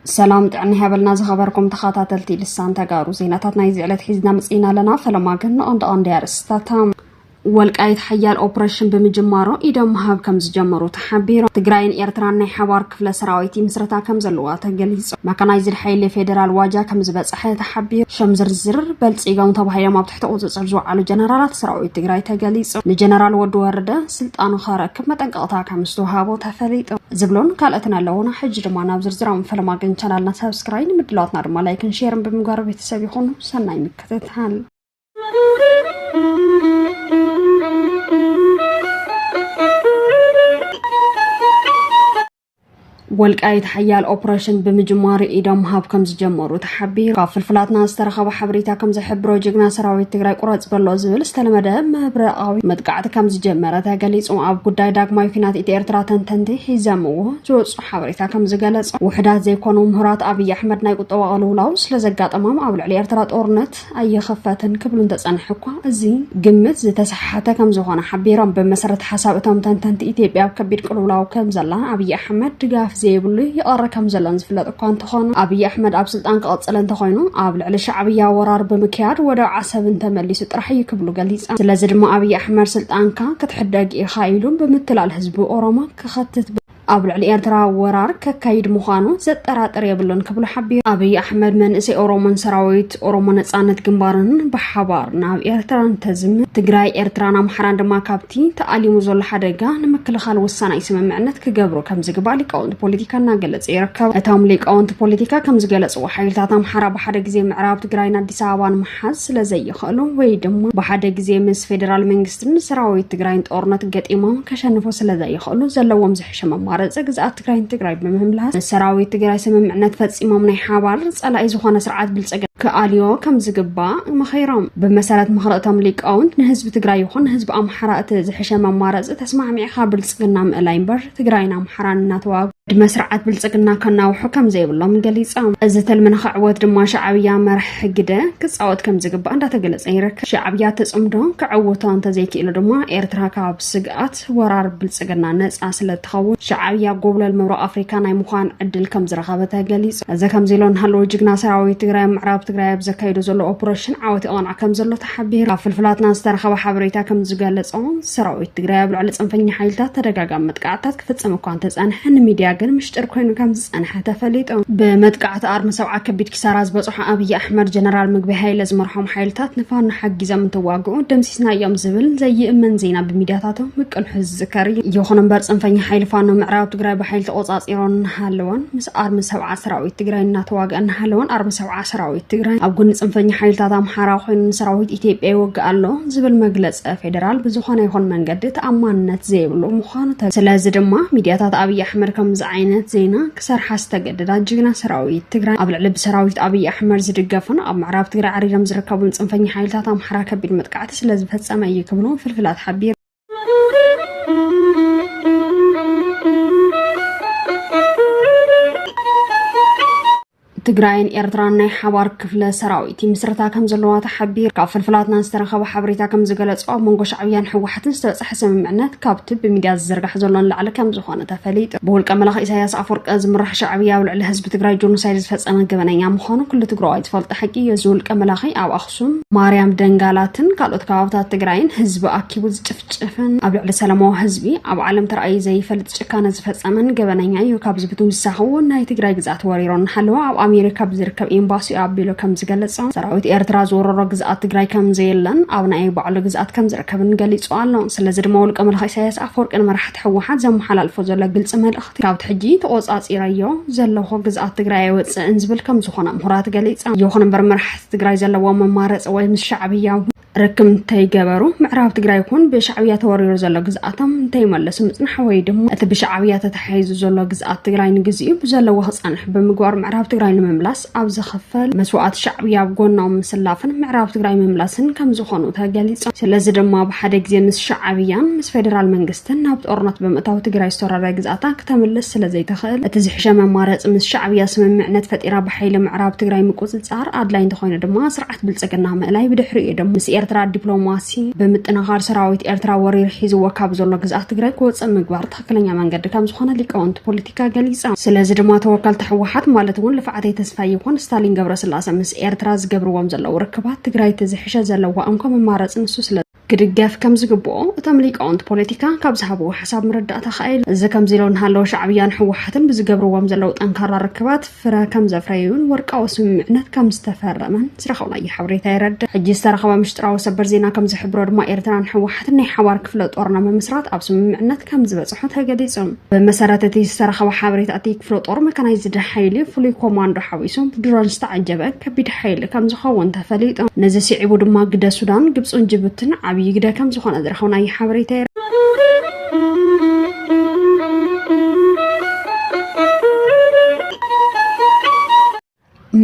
ሰላም ጥዕና ይሃበልና ዝኸበርኩም ተኸታተልቲ ልሳን ተጋሩ ዜናታት ናይዚ ዕለት ሒዝና መፅኢና ኣለና ፈለማ ግን ንቐንዲ ቀንዲ ኣርእስታታ ወልቃይት ሓያል ኦፕሬሽን ብምጅማሮ ኢዶም ምሃብ ከም ዝጀመሩ ተሓቢሩ። ትግራይን ኤርትራን ናይ ሓባር ክፍለ ሰራዊት ይምስረታ ከም ዘለዋ ተገሊጹ። መካናይዝድ ሓይሊ ፌደራል ዋጃ ከም ዝበጸሐ ተሓቢሩ። ሸም ዝርዝር በልጺጎም ተባሂሎም ኣብ ትሕቲ ቁጽጽር ዝወዓሉ ጀነራላት ሰራዊት ትግራይ ተገሊጹ። ንጀነራል ወዲ ወረደ ስልጣኑ ከረክብ መጠንቀቕታ ከም ዝተውሃቦ ተፈሊጡ። ዝብሉን ካልኦትን ኣለዉና። ሕጂ ድማ ናብ ዝርዝራም ፈለማ ግን ቻናልና ሳብስክራይ ንምድላዋትና ድማ ላይክን ሼርን ብምግባር ቤተሰብ ይኹኑ። ሰናይ ምክትታል። ወልቃይት ሓያል ኦፕሬሽን ብምጅማሩ ኢዶም ሃብ ከም ዝጀመሩ ተሓቢሩ ካብ ፍልፍላትና ዝተረኸበ ሓበሬታ ከም ዝሕብሮ ጅግና ሰራዊት ትግራይ ቁረፅ በሎ ዝብል ዝተለመደ ምብረቃዊ መጥቃዕቲ ከም ዝጀመረ ተገሊፁ ኣብ ጉዳይ ዳግማይ ኩናት ኢትዮ ኤርትራ ተንተንቲ ሒዘምዎ ዝወፁ ሓበሬታ ከም ዝገለፆ ውሕዳት ዘይኮኑ ምሁራት ኣብይ ኣሕመድ ናይ ቁጠባ ቅልውላው ስለዘጋጠሞም ኣብ ልዕሊ ኤርትራ ጦርነት ኣይኸፈትን ክብሉ እንተጸንሑ እኳ እዚ ግምት ዝተሰሓሓተ ከምዝኾነ ሓቢሮም። ብመሰረት ሓሳብ እቶም ተንተንቲ ኢትዮጵያ ኣብ ከቢድ ቅልውላው ከምዘላን ኣብይ ኣሕመድ ድጋፍ ዘይብሉ ይቐሪ ከምዘሎን ዝፍለጥ እኳ እንተኾነ ኣብይ ኣሕመድ ኣብ ስልጣን ክቕጽል እንተኾይኑ ኣብ ልዕሊ ሻዕብያ ወራር ብምክያድ ወደብ ዓሰብ እንተመሊሱ ጥራሕ እዩ ክብሉ ገሊጸም። ስለዚ ድማ ኣብይ ኣሕመድ ስልጣንካ ክትሕደግ ኢኻ ኢሉ ብምትላል ህዝቢ ኦሮሞ ክኸትት ኣብ ልዕሊ ኤርትራ ወራር ከካይድ ምዃኑ ዘጠራጥር የብሉን ክብሉ ሓቢሩ። ኣብይ ኣሕመድ መንእሰይ ኦሮሞን ሰራዊት ኦሮሞ ነጻነት ግንባርን ብሓባር ናብ ኤርትራ እንተዝምት ትግራይ፣ ኤርትራን ኣምሓራን ድማ ካብቲ ተኣሊሙ ዘሎ ሓደጋ ንምክልኻል ወሳናይ ስምምዕነት ክገብሩ ከምዝግባእ ሊቃውንቲ ፖለቲካ እናገለጸ ይርከብ። እቶም ሊቃውንቲ ፖለቲካ ከምዝገለጽዎ ሓይልታት ኣምሓራ ብሓደ ግዜ ምዕራብ ትግራይን ኣዲስ ኣበባን ምሓዝ ስለዘይኽእሉ ወይ ድማ ብሓደ ግዜ ምስ ፌደራል መንግስቲ ን ሰራዊት ትግራይን ጦርነት ገጢሞም ከሸንፉ ስለዘይኽእሉ ዘለዎም ዝሕሸ መማረፂ ግዝኣት ትግራይን ትግራይ ብምምላስ ምስ ሰራዊት ትግራይ ስምምዕነት ፈፂሞም ናይ ሓባር ፀላኢ ዝኾነ ስርዓት ብልፅግ ክኣልዮ ከም ዝግባእ መኺሮም። ብመሰረት ምኽሪ እቶም ሊቃውንት ንህዝቢ ትግራይ ይኹን ንህዝቢ ኣምሓራ እቲ ዝሕሸ መማረፂ ተስማዕሚዕኻ ብልፅግና ምእላይ እምበር ትግራይን ኣምሓራን እናተዋግ ዕድመ ስርዓት ብልፅግና ከናውሑ ከም ዘይብሎም ገሊፆም እዚ ትልሚ ንክዕወት ድማ ሻዕብያ መራሒ ሕጊደ ክፃወት ከም ዝግባእ እንዳተገለፀ ይርከብ ሻዕብያ ተፅምዶ ክዕውቶ እንተዘይክኢሉ ድማ ኤርትራ ካብ ስግኣት ወራር ብልፅግና ነፃ ስለትኸውን ሻዕብያ ጎብለል ምብራቅ ኣፍሪካ ናይ ምዃን ዕድል ከም ዝረኸበ ተገሊፁ እዚ ከምዚ ኢሎ ንሃለዎ ጅግና ሰራዊት ትግራይ ምዕራብ ትግራይ ኣብ ዘካይዶ ዘሎ ኦፕሬሽን ዓወት ይቐንዕ ከም ዘሎ ሓቢሩ። ካብ ፍልፍላትና ዝተረኸበ ሓበሬታ ከም ዝገለጾ ሰራዊት ትግራይ ኣብ ልዕሊ ፅንፈኛ ሓይልታት ተደጋጋሚ መጥቃዕትታት ክፍፅም እኳ እንተፀንሐ ንሚድያ ግን ምሽጥር ኮይኑ ከም ዝፀንሐ ተፈሊጡ። ብመጥቃዕቲ ኣርሚ ሰብዓ ከቢድ ኪሳራ ዝበፅሖ ኣብይ ኣሕመድ ጀነራል ምግቢ ሃይለ ዝመርሖም ሓይልታት ንፋኖ ሓጊዞም እንትዋግኡ ደምሲስናዮም ዝብል ዘይእመን ዜና ብሚድያታቱ ምቅንሑ ዝዝከር እዩ። ይኹን እምበር ፅንፈኛ ሓይሊ ፋኖ ምዕራብ ትግራይ ብሓይሊ ተቆፃፂሮን እናሃለወን ምስ ኣርሚ ሰብዓ ሰራዊት ትግራይ እናተዋግአ እናሃለወን ኣርሚ ሰብዓ ሰራዊት ትግራይ ኣብ ጎኒ ፅንፈኛ ሓይልታት ኣምሓራ ኮይኑ ንሰራዊት ኢትዮጵያ ይወግእ ኣሎ ዝብል መግለፂ ፌዴራል ብዝኾነ ይኹን መንገዲ ተኣማንነት ዘይብሉ ምዃኑ ተ ስለዚ ድማ ሚዲያታት ኣብይ ኣሕመድ ከምዚ ዓይነት ዜና ክሰርሓ ዝተገደዳ ጅግና ሰራዊት ትግራይ ኣብ ልዕሊ ብሰራዊት ኣብይ ኣሕመድ ዝድገፉን ኣብ ምዕራብ ትግራይ ዓሪዶም ዝርከቡን ፅንፈኛ ሓይልታት ኣምሓራ ከቢድ መጥቃዕቲ ስለዝፈፀመ እዩ ክብሉ ፍልፍላት ሓቢሩ ትግራይን ኤርትራን ናይ ሓባር ክፍለ ሰራዊት ምስረታ ከም ዘለዋ ተሓቢር ካብ ፍልፍላትና ዝተረኸበ ሓበሬታ ከም ዝገለጾ ኣብ መንጎ ሻዕብያን ሕወሓትን ዝተበፅሐ ስምምዕነት ካብቲ ብሚድያ ዝዝርጋሕ ዘሎ ንላዕሊ ከም ዝኾነ ተፈሊጡ ብውልቀ መላኽ ኢሳያስ ኣፈወርቀ ዝምራሕ ሻዕብያ ኣብ ልዕሊ ህዝቢ ትግራይ ጆኖሳይድ ዝፈፀመ ገበነኛ ምዃኑ ኩሉ ትግራዋይ ዝፈልጦ ሓቂ እዩ እዚ ውልቀ መላኺ ኣብ ኣክሱም፣ ማርያም ደንጋላትን ካልኦት ከባብታት ትግራይን ህዝቢ ኣኪቡ ዝጭፍጭፍን ኣብ ልዕሊ ሰላማዊ ህዝቢ ኣብ ዓለም ተራእዩ ዘይፈልጥ ጭካነ ዝፈፀመን ገበነኛ እዩ። ካብዚ ብትውሳኺ እውን ናይ ትግራይ ግዝኣት ወሪሮ እናሃለወ ኣብ ኣሜሪካ ብዝርከብ ኤምባሲኡ ኣቢሉ ከም ዝገለፆ ሰራዊት ኤርትራ ዝወረሮ ግዝኣት ትግራይ ከም ዘየለን ኣብ ናይ ባዕሉ ግዝኣት ከም ዝርከብን ገሊፁ ኣሎ። ስለዚ ድማ ውልቀ መላኺ ኢሳያስ ኣፈወርቂ ንመራሕቲ ህወሓት ዘመሓላልፎ ዘሎ ግልፂ መልእኽቲ ካብቲ ሕጂ ተቖፃፂረዮ ዘለኹ ግዝኣት ትግራይ ኣይወፅእን ዝብል ከም ዝኾነ ምሁራት ገሊፆም። ይኹን እምበር መራሕቲ ትግራይ ዘለዎም መማረፂ ወይ ምስ ሻዕብያ ርክብ እንተይገበሩ ምዕራብ ትግራይ ይኹን ብሻዕብያ ተወሪሩ ዘሎ ግዝኣቶም እንተይመለሱ ምፅናሕ ወይ ድማ እቲ ብሻዕብያ ተተሓሒዙ ዘሎ ግዝኣት ትግራይ ንግዚኡ ብዘለዎ ክፀንሕ ብምግባር ምዕራብ ትግራይ ንምምላስ ኣብ ዝኽፈል መስዋእቲ ሻዕብያ ኣብ ጎኖም ምስላፍን ምዕራብ ትግራይ ምምላስን ከም ዝኾኑ ተገሊፆም። ስለዚ ድማ ብሓደ ግዜ ምስ ሻዕብያን ምስ ፌዴራል መንግስትን ናብ ጦርነት ብምእታው ትግራይ ዝተወረረ ግዝኣታ ክተምልስ ስለዘይትኽእል እቲ ዝሕሸ መማረፂ ምስ ሻዕብያ ስምምዕነት ፈጢራ ብሓይሊ ምዕራብ ትግራይ ምቁፅፃር ምፍጣር ኣድላይ እንተኾይኑ ድማ ስርዓት ብልፅግና ምእላይ ብድሕሪኡ ድማ ምስ ኤርትራ ዲፕሎማሲ ብምጥንኻር ሰራዊት ኤርትራ ወሪሩ ሒዝዎ ካብ ዘሎ ግዝኣት ትግራይ ክወፅእ ምግባር ትኽክለኛ መንገዲ ከምዝኾነ ሊቃውንቲ ፖለቲካ ገሊፆም። ስለዚ ድማ ተወከልቲ ህወሓት ማለት እውን ልፍዓተይ ተስፋይ ይኹን ስታሊን ገብረስላሰ ምስ ኤርትራ ዝገብርዎም ዘለዉ ርክባት ትግራይ እቲ ዝሕሸ ዘለዋ እንኮ መማረፂ ንሱ ስለ ክድገፍ ከም ዝግብኦ እቶም ሊቃውንቲ ፖለቲካ ካብ ዝሃብዎ ሓሳብ ምርዳእታ ከኣ ኢሉ እዚ ከምዚ ኢሎ እንሃለወ ሻዕብያን ሕወሓትን ብዝገብርዎም ዘለዉ ጠንካራ ርክባት ፍረ ከም ዘፍረዩን ወርቃዊ ስምምዕነት ከም ዝተፈረመን ዝረኸብናዮ ሓበሬታ የረድእ ሕጂ ዝተረኸበ ምሽጥራዊ ሰበር ዜና ከም ዝሕብሮ ድማ ኤርትራን ሕወሓትን ናይ ሓባር ክፍለ ጦር ንምምስራት ኣብ ስምምዕነት ከም ዝበጽሑ ተገሊጹ ብመሰረት እቲ ዝተረኸበ ሓበሬታ እቲ ክፍለ ጦር መካናይዝድ ሓይሊ ፍሉይ ኮማንዶ ሓዊሱ ብድሮን ዝተዓጀበ ከቢድ ሓይሊ ከም ዝኸውን ተፈሊጡ ነዚ ስዒቡ ድማ ግደ ሱዳን ግብፅን ጅቡትን ዓብዪ ግደ ከም ዝኾነ ዝረኸብናዮ ሓበሬታ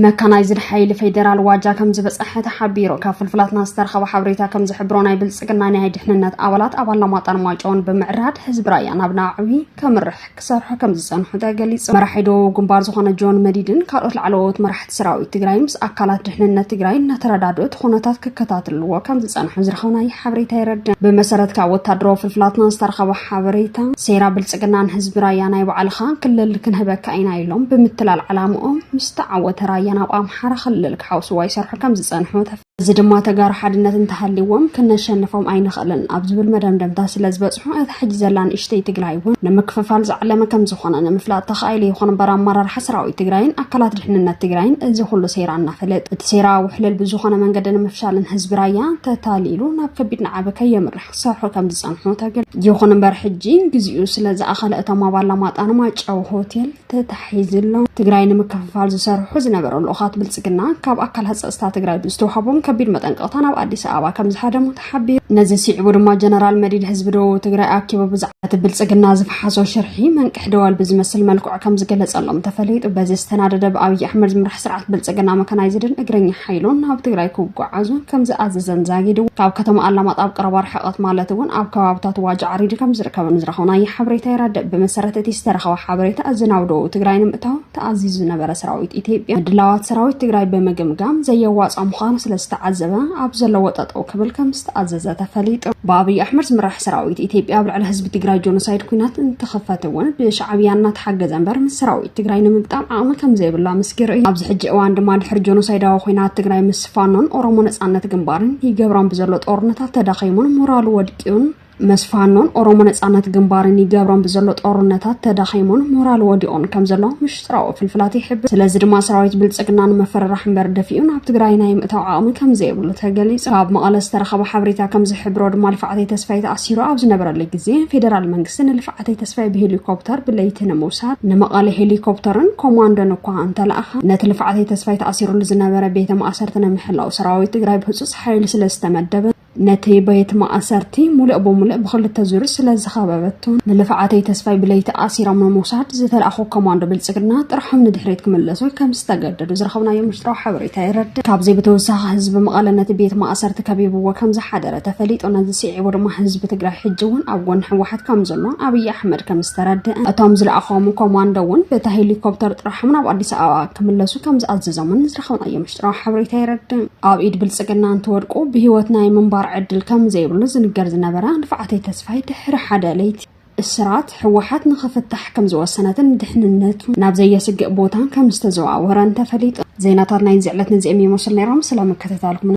መካናይዝድ ሓይሊ ፌዴራል ዋጃ ከም ዝበፀሐ ተሓቢሩ። ካብ ፍልፍላትና ዝተረኸበ ሓበሬታ ከም ዝሕብሮ ናይ ብልፅግና ናይ ድሕንነት ኣባላት ኣብ ኣላማጣን ማይጨውን ብምዕራድ ህዝቢ ራያ ናብ ናዕቢ ከምርሕ ክሰርሑ ከም ዝፀንሑ ተገሊፁ። መራሒ ደቡብ ግንባር ዝኾነ ጆን መዲድን ካልኦት ላዕለዎት መራሕቲ ሰራዊት ትግራይ ምስ ኣካላት ድሕንነት ትግራይ እናተረዳድኡ እቲ ኩነታት ክከታትልዎ ከም ዝፀንሑ ዝረኸብናይ ሓበሬታ የረድእ። ብመሰረት ካብ ወታደራዊ ፍልፍላትና ዝተረኸበ ሓበሬታ ሴራ ብልፅግናን ህዝቢ ራያ ናይ ባዕልኻ ክልል ክንህበካ ኢና ኢሎም ብምትላል ዓላምኦም ምስ ተዓወተ ራያ ናብ ኣምሓራ ክልል ክሓውስዋ ይሰርሑ ከም ዝፀንሑ እዚ ድማ ተጋሩ ሓድነት እንተሃልይዎም ክነሸንፎም ኣይንኽእልን ኣብ ዝብል መደምደምታ ስለ ዝበፅሑ እታ ሕጂ ዘላ ንእሽተይ ትግራይ እውን ንምክፍፋል ዝዓለመ ከም ዝኾነ ንምፍላጥ ተኻኢሉ ይኹን እምበር ኣመራርሓ ሰራዊት ትግራይን ኣካላት ድሕንነት ትግራይን እዚ ኩሉ ሴራ እናፈለጥ እቲ ሴራ ውሕልል ብዝኾነ መንገዲ ንምፍሻልን ህዝቢ ራያ ተታሊሉ ናብ ከቢድ ናዕቢ ከየምርሕ ክሰርሑ ከም ዝፀንሑ ተገል ይኹን እምበር ሕጂ ግዚኡ ስለ ዝኣኸለ እቶም ኣብ ኣላማጣ ንማይጨው ሆቴል ተታሒዝሎ ትግራይ ንምክፍፋል ዝሰርሑ ዝነበሩ ልኡኻት ብልፅግና ካብ ኣካላት ፀፅታ ትግራይ ብዝተዋሃቦም ከቢድ መጠንቀቕታ ናብ ኣዲስ ኣበባ ከም ዝሃደሙ ተሓቢሩ ነዚ ስዒቡ ድማ ጀነራል መዲድ ህዝቢ ደቡብ ትግራይ ኣኪቡ ብዛዕባ እቲ ብልፅግና ዝፈሓሶ ሽርሒ መንቅሒ ደወል ብዝመስል መልክዑ ከም ዝገለጸሎም ተፈሊጡ። በዚ ዝተናደደ ብኣብይ ኣሕመድ ዝምራሕ ስርዓት ብልጽግና መካናይዝድን እግረኛ ሓይሉን ናብ ትግራይ ክጓዓዙ ከም ዝኣዘዘን ዛጊድ ካብ ከተማ ኣላማጣ ኣብ ቀረባ ርሕቐት ማለት እውን ኣብ ከባብታት ዋጃ ዓሪዲ ከም ዝርከብን ዝረኸብናዮ ሓበሬታ የረድእ። ብመሰረት እቲ ዝተረኸበ ሓበሬታ እዚ ናብ ደቡብ ትግራይ ንምእታው ተኣዚዙ ዝነበረ ሰራዊት ኢትዮጵያ ምድላዋት ሰራዊት ትግራይ ብምግምጋም ዘየዋጽኣ ምዃኑ ስለ ዝተዓዘበ ኣብ ዘለዎ ጠጠው ክብል ከም ዝተኣዘዘ ተፈሊጡ። ብኣብይ ኣሕመድ ዝምራሕ ሰራዊት ኢትዮጵያ ኣብ ልዕሊ ህዝቢ ትግራይ ጆኖሳይድ ኲናት እንትኽፈት እውን ብሻዕብያ እናተሓገዘ እምበር ምስ ሰራዊት ትግራይ ንምግጣም ዓቕሚ ከምዘይብሉ ኣመስኪሩ እዩ። ኣብዚ ሕጂ እዋን ድማ ድሕሪ ጆኖሳይዳዊ ኲናት ትግራይ ምስ ፋኖን ኦሮሞ ነፃነት ግንባርን ይገብሮም ብዘሎ ጦርነታት ተዳኺሙን ሞራሉ ወድቂኡን ምስ ፋኖን ኦሮሞ ነፃነት ግንባርን ይገብሮም ብዘሎ ጦርነታት ተዳኺሙን ሞራሉ ወዲቑን ከምዘሎ ጭራኡ ፍልፍላት ይሕብር። ስለዚ ድማ ሰራዊት ብልፅግና ንምፍርራሕ እምበር ደፊኡ ናብ ትግራይ ናይ ምእታው ዓቕሚ ከምዘይብሉ ተገሊፁ። ካብ መቐለ ዝተረኸበ ሓበሬታ ከምዝሕብሮ ድማ ልፍዓተይ ተስፋይ ተኣሲሩ ኣብ ዝነበረሉ ግዜ ፌደራል መንግስቲ ንልፍዓተይ ተስፋይ ብሄሊኮፕተር ብለይቲ ንምውሳድ ንመቐለ ሄሊኮፕተርን ኮማንዶን እኳ እንተለኣኸ ነቲ ልፍዓተይ ተስፋይ ተኣሲሩሉ ዝነበረ ቤተ ማእሰርቲ ንምሕላው ሰራዊት ትግራይ ብህፁፅ ሓይሊ ስለዝተመደበ ነቲ ቤት ማእሰርቲ ሙሉእ ብሙሉእ ብክልተ ዙር ስለ ዝኸበበቶ ንልፍዓተይ ተስፋይ ብለይቲ ኣሲሮም ንምውሳድ ዝተልኣኹ ኮማንዶ ብልፅግና ጥርሖም ንድሕሪት ክምለሱ ከም ዝተገደዱ ዝረኸብናዮ ምሽጥራዊ ሓበሬታ የረድእ። ካብዚ ብተወሳኺ ህዝቢ መቐለ ነቲ ቤት ማእሰርቲ ከቢብዎ ከም ዝሓደረ ተፈሊጡ። ነዚ ስዒቡ ድማ ህዝቢ ትግራይ ሕጂ እውን ኣብ ጎኒ ህወሓት ከም ዘሎ ኣብይ ኣሕመድ ከም ዝተረደኣ እቶም ዝለኣኾም ኮማንዶ እውን በታ ሄሊኮፕተር ጥርሖም ናብ ኣዲስ ኣበባ ክምለሱ ከም ዝኣዘዞምን ዝረኸብናዮ ጥራሕ ሓበሬታ የረድእ። ኣብ ኢድ ብልጽግና እንትወድቁ ብህይወት ናይ ምንባር ዕድል ከም ዘይብሉ ዝንገር ዝነበረ ንፍዓተይ ተስፋይ ድሕሪ ሓደ ለይቲ እስራት ህወሓት ንኽፍታሕ ከም ዝወሰነትን ድሕንነቱ ናብ ዘየስግእ ቦታን ከም ዝተዘዋወረን ተፈሊጡ። ዜናታት ናይዚ ዕለት ነዚኦም ይመስሉ ነይሮም። ስለ ምክትታልኩም